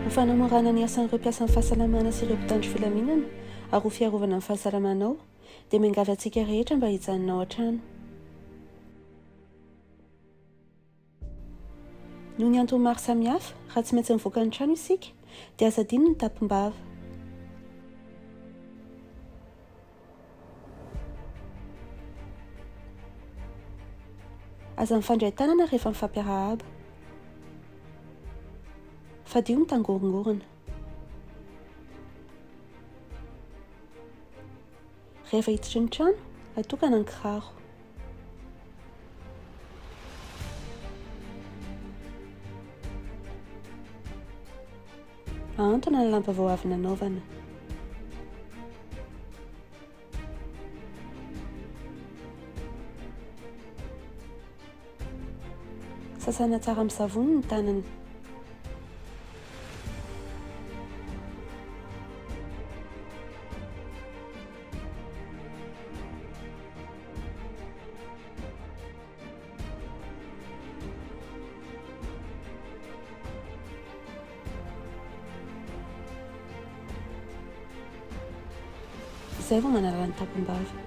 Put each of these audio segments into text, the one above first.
Ho fanamorana ny asan'ireo mpiasan'ny fahasalamana sy ireo mpitandro filaminana ary ho fiarovana ny fahasalamanao dia miangavy antsika rehetra mba hijanona ao an-trano. Noho ny antony maro samihafa, raha tsy maintsy mivoaka ny trano isika, dia aza adino ny tapimbava. Aza mifandray tanana rehefa mifampiarahaba. Fadio ny tangorongorona. Rehefa hiditra ny trano, atokana ny kiraro. Ahantona ny lamba vao avy nanaovana. Sasana tsara amin'ny savony ny tanana. Izay vao manala ny tapim-bava.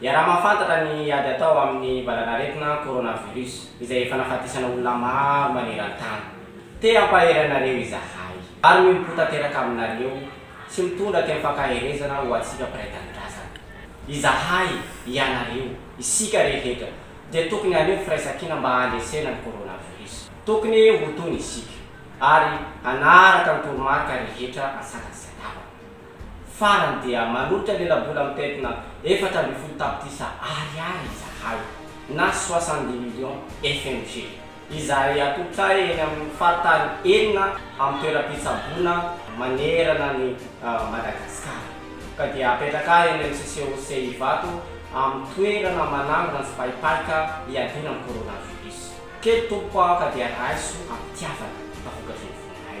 Iaraha-mahafantatra ny ady atao amin'ny valanaretina coronavirus izay efa nahafatesana olona maro maneran-tany. Te hampahery anareo izahay ary mihobo-po tanteraka aminareo sy mitondra teny fankaherezana ho antsika mpiray tanindrazana. Izahay, ianareo, isika rehetra dia tokony haneho firaisankina mba handresena ny coronavirus. Tokony ho tony isika ary hanaraka ny toromarika rehetra an-tsakany sy an-davany. Farany dia manolotra lela-bola mitentina efatra ambin'ny folo tapitrisa ariary izahay na soixante-dix millions FMG izay atolotray eny amin'ny faritany enina amin'ny toeram-pitsaboana manerana an'i Madagasikara ka dia apetraka eny amin'ny CCOC Ivato amin'ny toerana manangona sy paipaika hiadiana amin'ny coronavirus. Kely Tompoko aho ka dia raiso am-pitiavana fa vokatry ny vonay.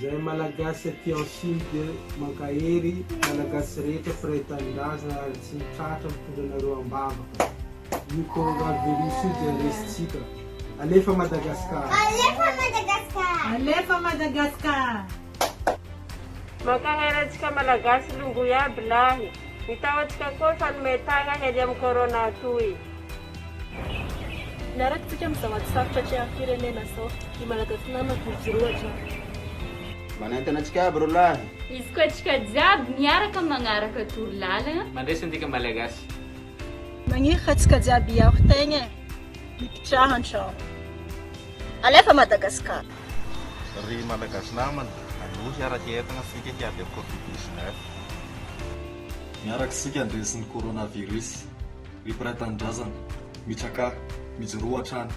Zahay malagasy aty en sud mankahery malagasy rehetra mpiray tanindrazana ary tsy mitratra mitondra anareo ambavaka io coronavirus io dia resintsika alefa madagascar Alefa Madagascar! Alefa Madagascar! Mankahery antsika malagasy longo iaby lahy. Ny tahotsika koa fanome tagna hery am corona toy. Miaraka isika amin'izao ady sarotra atrehan'ny firenena izao. Ry Malagasy namako, mijoroa hatrany. Manentana antsika aby ro lahy. Hifoka antsika jiaby miaraka magnaraka toro lalagna. Mandresy antsika Malagasy. Magnirika antsika jiaby hiaro tegna e. Mipitraha an-tragno. Alefa Madagascar. Ry Malagasy namana, aloha hiaraka entagna isika hiady amin'ny covid 19. Miaraka isika handresy ny coronavirus. Ry mpiray tanindrazana, mitsakà, mijoroa hatrany.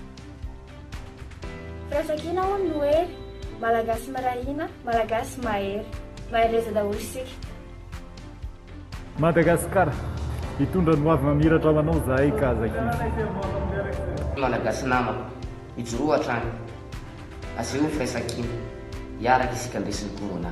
Firaisankina hono no hery, Malagasy miray hina, Malagasy mahery. Mahereza daholo isika. Madagascar, hitondra ny hoavy mamiratra ho anao zahay ka aza kivy. Malagasy namako, mijoroa hatrany, asehoy ny firaisankina, hiaraka isika handresy ny Corona.